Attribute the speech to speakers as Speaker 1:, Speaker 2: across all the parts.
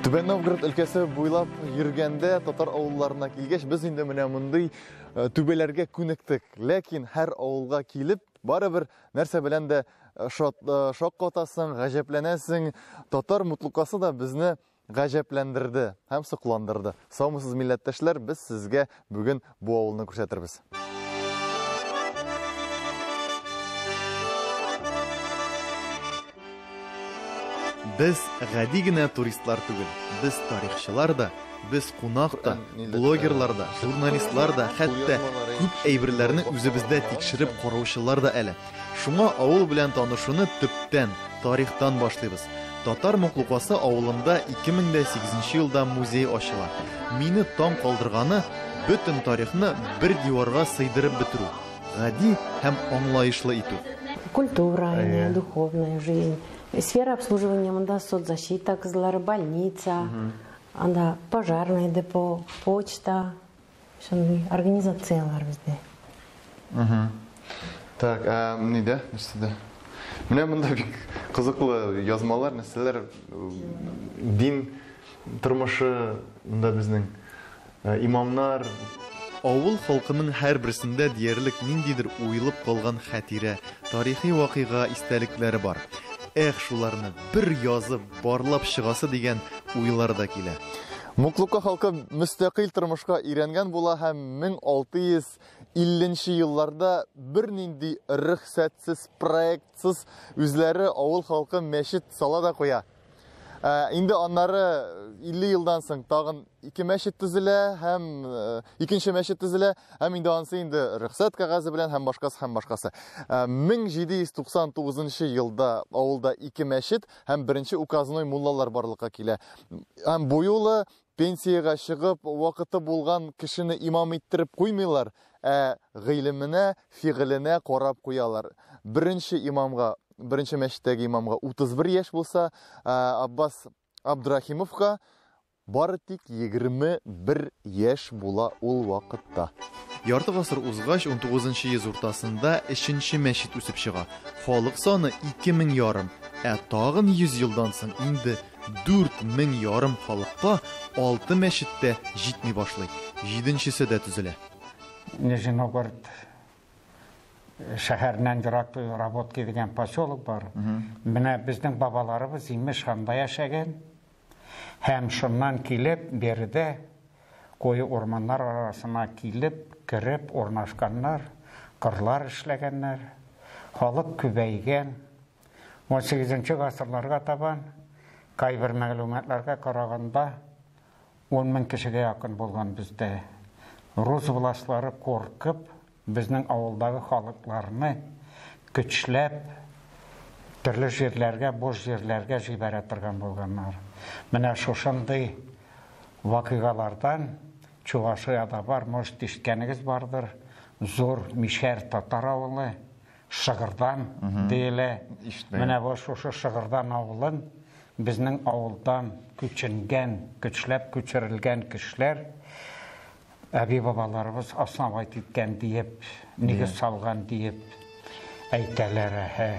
Speaker 1: Түбән Новгород өлкәсе буйлап йөргәндә, татар авылларына килгәч, без инде менә мондый э, түбәләргә күнектек. Ләкин һәр авылга килеп, барыбер нәрсә белән дә э, э, шаккатасың, гаҗәпләнәсең. Татар мутлукасы да безне гаҗәпләндерде һәм сокландырды. Саумысыз милләттәшләр, без сезгә Бүген бу авылны күрсәтербез. Без гади генә туристлар түгел. Без тарихчылар да, без кунак та, блогерлар да, журналистлар да, хәтта күп әйберләрне үзебездә тикшереп караучылар да әле. Шуңа авыл белән танышуны төптән, тарихтан башлыйбыз. Татар Моклукасы авылында 2008 елда музей ачыла. Мине таң калдырганы, бөтен тарихны бер диварга сыйдырып бетерү, гади һәм аңлаешлы итү. Культура,
Speaker 2: духовная жизнь, сфера обслуживания монда соцзащита кызлары, больница, анда пожарный депо, почта, Шундый организацияләр бездә.
Speaker 1: Так, ә нидә? Нәрсәдә? Менә монда бик кызыклы язмалар, нәрсәләр дин тормышы монда безнең э, имамнар Авыл халкының һәрберсендә диярлек ниндидер уелып калган хәтирә, тарихи вакыйга истәлекләре бар. Эх, шуларны бер язып, барлап чыгасы дигән уйлар да килә. Муклука халкы мөстәкыйль тормышка өйрәнгән була һәм 1650 нче елларда бернинди рөхсәтсез, проектсыз үзләре авыл халкы мәчет сала да куя. Ә, инде аннары 50 елдан соң тагын ике мәчет төзелә һәм э, икенче мәчет төзелә һәм инде ансы инде рөхсәт кәгазе белән һәм башкасы һәм башкасы. Ә, 1799 елда авылда ике мәчет, һәм беренче указной муллалар барлыкка килә. Һәм бу юлы пенсиягә чыгып, вакыты булган кешене имам иттереп куймыйлар, ә гыйлеменә, фигыленә карап куялар. Беренче имамга, беренче мәчеттәге имамга 31 яшь булса, Аббас Абдрахимовка Бары тик егерме бер яшь була ул вакытта. Ярты гасыр узгач, унтугызынчы йөз уртасында өченче мәчет үсеп чыга. Халык саны ике мең ярым, ә тагын йөз елдан соң инде дүрт мең ярым халыкка алты мәчет тә җитми башлый, җиденчесе дә төзелә.
Speaker 3: Нижиногорд шәһәреннән ерак Работки дигән поселок бар. Менә безнең бабаларыбыз, имеш, анда яшәгән. Һәм шуннан килеп, биредә, куе урманнар арасына килеп, кереп урнашканнар, кырлар эшләгәннәр, халык күбәйгән. Унсигезенче гасырларга табан, кайбер мәгълүматларга караганда, ун мең кешегә якын булган бездә. Рус властьлары куркып, Безнең авылдагы халыкларны көчләп төрле җирләргә, буш җирләргә җибәрә торган булганнар. Менә шушындый вакыйгалардан Чувашиядә бар, может ишеткәнегез бардыр, Зур Мишәр татар авылы, Шыгырдан диелә. Ишетмәгән. Менә бу шушы Шыгырдан авылын безнең авылдан күченгән, көчләп күчерелгән кешеләр Әби-бабаларыбыз основать иткән диеп, нигез салган диеп әйтәләр, әһә.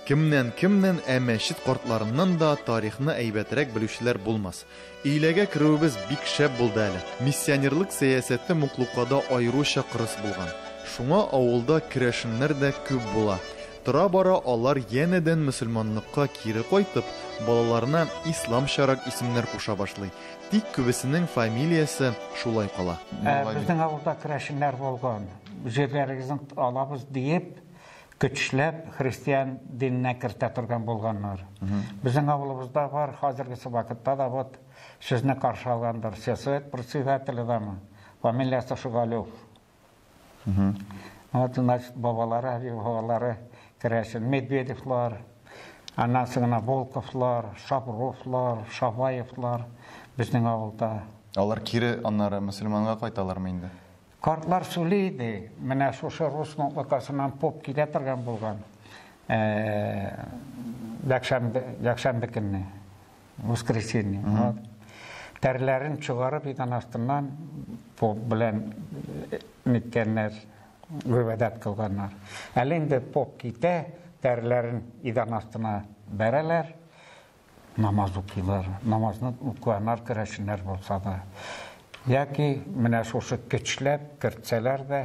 Speaker 1: Кемнән-кемнән, ә мәчет картларыннан да тарихны әйбәтрәк белүчеләр булмас. Өйләгә керүебез бик шәп булды әле. Миссионерлык сәясәте Муклукада аеруча кырыс булган. Шуңа авылда керәшеннәр дә күп була. Тора-бара алар янәдән мөселманлыкка кире кайтып, балаларына исламчарак исемнәр куша башлый. Тик күбесенең фамилиясе шулай кала. Ә безнең авылда
Speaker 3: керәшеннәр булган, җирләрегезне алабыз диеп, көчләп христиан диненә кертә торган булганнар. Безнең авылыбызда бар, хәзергесе вакытта да вот сезне каршы алгандыр, сельсовет председателе дәме, фамилиясе Шөгалев. Вот у нас бабалары, әби бабалары керәшен Медведевлар, аннан соң гына Волковлар, Шабровлар, Шабаевлар безнең авылда. Алар кире
Speaker 1: аннары мөселманга кайталармы инде? Картлар сөйли
Speaker 3: иде. Менә шушы рус мутлыкасыннан поп килә торган булган. Якшәмбе, якшәмбе көнне. воскресенье. Угу. Тәрләрен чыгарып идән астыннан поп белән э, ниткәннәр, гыйбадәт кылганнар. Әле инде поп китә, тәрләрен идән астына бәрәләр, намаз укыйлар. Намазны укыганнар керәшеннәр булса да. Яки менә шушы көчләп кертсәләр дә,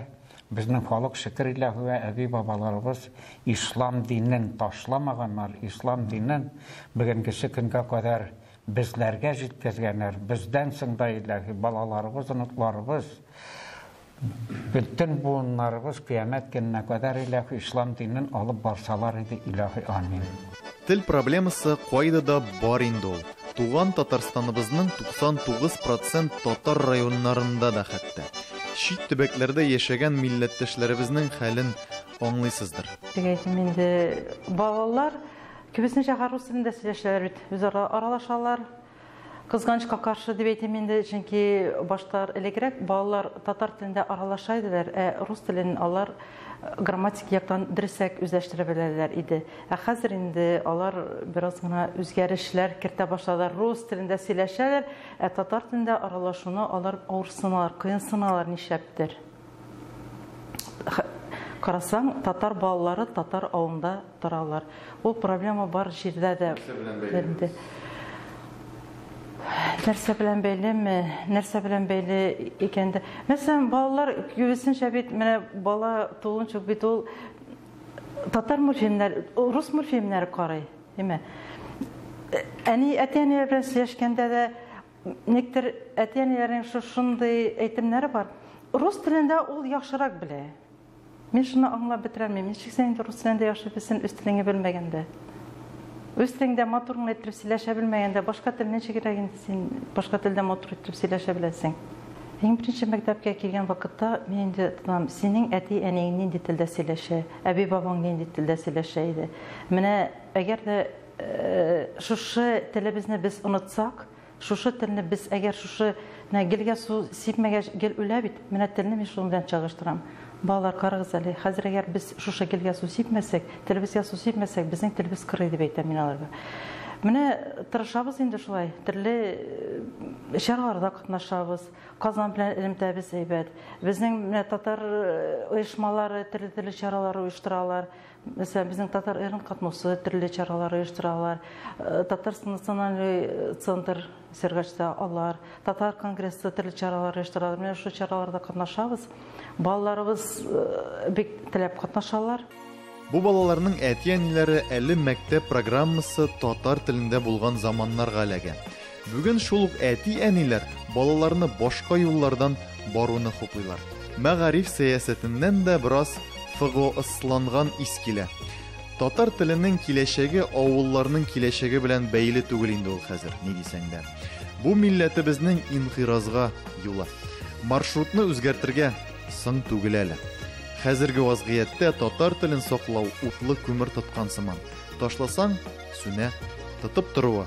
Speaker 3: Безнең халык шөкер Илаһуа әби бабаларыбыз ислам динен ташламаганнар, ислам динен бегенгесе көнгә кадәр безләргә җиткезгәннәр, бездән соң да Илаһи балаларыбыз, оныкларыбыз, бөтен буыннарыбыз кыямәт көненә кадәр Илаһи ислам динен алып барсалар иде Илаһи амин. Тел
Speaker 1: проблемасы кайда да бар инде ул. Туган Татарстаныбызның 99 процент татар районнарында да хәтта. Чит төбәкләрдә яшәгән милләттәшләребезнең хәлен аңлыйсыздыр. Теге инде
Speaker 4: балалар кебесенчә рус телендә сөйләшәләр бит, үзара аралашалар. Кызганычка каршы дип әйтим инде, чөнки башта элегрәк балалар татар телендә аралаша иделәр, ә рус телен алар грамматик яктан дөресрәк үзләштерә беләләр иде. Ә хәзер инде алар бераз гына үзгәрешләр кертә башладылар. Рус телендә сөйләшәләр, ә татар телендә аралашуны алар авырсыналар, кыенсыналар нишләптер. Карасаң, татар балалары татар авылында торалар. Ул проблема бар җирдә дә. Нәрсә белән бәйле? Нәрсә белән бәйлеме? Нәрсә белән бәйле икән дә? Мәсәлән, балалар күбесенчә бит менә бала тулынча бит ул татар мультфильмнәр, рус мультфильмнәре карый, димә. Әни әти-әниләр белән сөйләшкәндә дә никтер әти-әниләрнең шушындый әйтемнәре бар. Рус телендә ул яхшырак белә. Мин шуны аңлап бетерәлмим, ничек син инде рус телендә яшибесен үз телеңе белмәгәндә? Үз телеңдә матур гына иттереп сөйләшә белмәгәндә, башка тел ничек кирәк инде син башка телдә матур иттереп сөйләшә беләсең? Иң беренче мәктәпкә килгән вакытта мин инде тотынам, синең әти-әниең нинди телдә сөйләшә, әби-бабаң нинди телдә сөйләшә иде. Менә әгәр дә шушы телебезне без онытсак, Шушы телне без әгәр шушы менә гелгә су сипмәгәч гел үлә бит, менә телне мин шуның белән чагыштырам. Балалар, карагыз әле, хәзер әгәр без шушы гелгә су сипмәсәк, телебезгә су сипмәсәк, безнең телебез корый, дип әйтәм мин аларга. Менә тырышабыз инде шулай, төрле чараларда катнашабыз, Казан белән элемтәбез әйбәт. Безнең менә татар оешмалары төрле-төрле чаралар оештыралар. Мәсәлән, безнең Татар Эрн катнаусы төрле чаралар оештыралар. Э, Татарстан националь э, центр Сергачта алар, Татар конгрессы төрле чаралар оештыралар. Менә шул чараларда катнашабыз. Балаларыбыз э, бик теләп катнашалар. Бу
Speaker 1: балаларның әти-әниләре әле мәктәп программасы татар телендә булган заманнарга эләгә. Бүген шул ук әти-әниләр балаларны башка юллардан баруны хуплыйлар. Мәгариф сәясәтеннән дә бераз ФГОСланган ис килә. Татар теленең киләчәге авылларның киләчәге белән бәйле түгел инде ул хәзер, ни дисәң дә. Бу милләтебезнең инкыйразга юлы. Маршрутны үзгәртергә соң түгел әле. Хәзерге вазгыятьтә татар телен саклау утлы күмер тоткан сыман. Ташласаң, сүнә. Тотып торуы,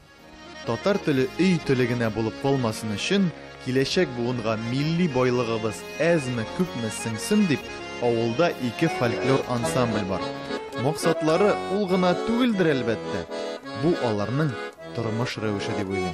Speaker 5: Татар
Speaker 1: теле өй теле генә булып калмасын өчен, киләчәк буынга милли байлыгыбыз әзме-күпме сеңсен дип, авылда ике фольклор ансамбль бар. Максатлары ул гына түгелдер, әлбәттә. Бу аларның тормыш рәвеше дип уйлыйм.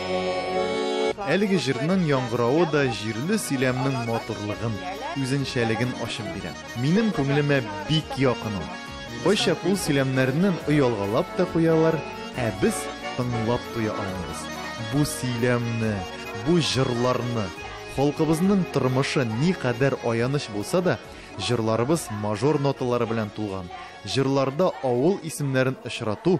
Speaker 1: Әлеге җырның яңгыравы да җирле сөйләмнең матурлыгын, үзенчәлеген ачып бирә. Минем күңелемә бик якын ул. Кайчак ул сөйләмнәрнен оялгалап та куялар, ә без тыңлап туя алмыйбыз. Бу сөйләмне, бу җырларны! Халкыбызның тормышы никадәр аяныч булса да, җырларыбыз мажор ноталары белән тулган. Җырларда авыл исемнәрен очрату,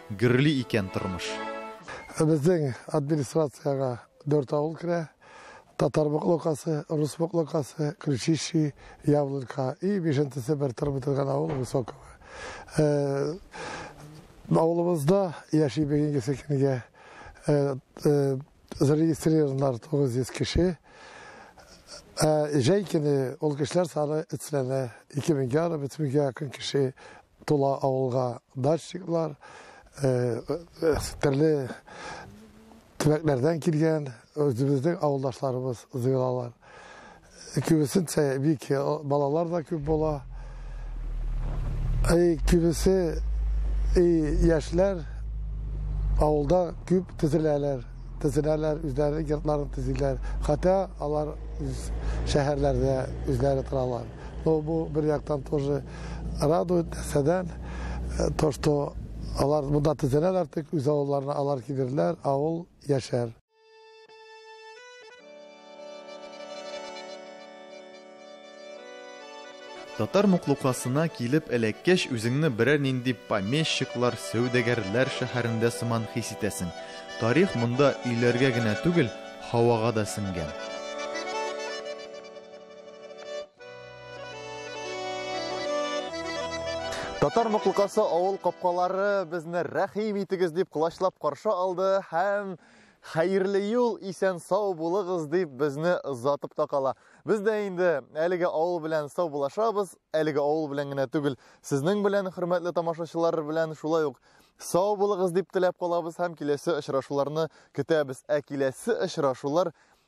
Speaker 1: Гөрли икән тормыш. Безнең
Speaker 6: администрациягә дүрт авыл керә, Татар Боклокасы, Рус Боклокасы, Кричищи, Яблонька и бишенчесе бер торып бетергән авыл Высоково. Авылыбызда яши бүгенге көнгә зарегистрированнар 900 кеше. Җәй көне ул кешеләр саны өцләнә, ике меңгә, аны бөтенләй көн кеше Тула авылга дачниклар, төрле төбәкләрдән килгән үзебезнең авылдашларыбыз җыелалар. Күбесенчә бик балалар да күп була. Әй, күбесе яшьләр авылда күп төзеләләр, төзеләләр, үзләренең йортларын төзиләр. Хәтта алар шәһәрләрдә үзләре торалар. Но бу бер яктан тоже радует нәрсәдән, э, то что алар монда төзәләр артык, үз авылларына алар килерләр, авыл яшәр.
Speaker 1: Татар муклукасына килеп эләккәч, үзеңне берәр нинди помещиклар, сәүдәгәрләр шәһәрендә сыман хис итәсең. Тарих монда өйләргә генә түгел, һавага да сеңгән. Татар Муклыкасы авыл капкалары безне рәхим итегез дип кылачлап каршы алды һәм хәерле юл исән сау булыгыз дип безне озатып та кала. Без дә инде әлеге авыл белән сау булашабыз, әлеге авыл белән генә түгел, сезнең белән хөрмәтле тамашачылар белән шулай ук сау булыгыз дип теләп калабыз һәм киләсе очрашуларны көтәбез. Ә киләсе очрашулар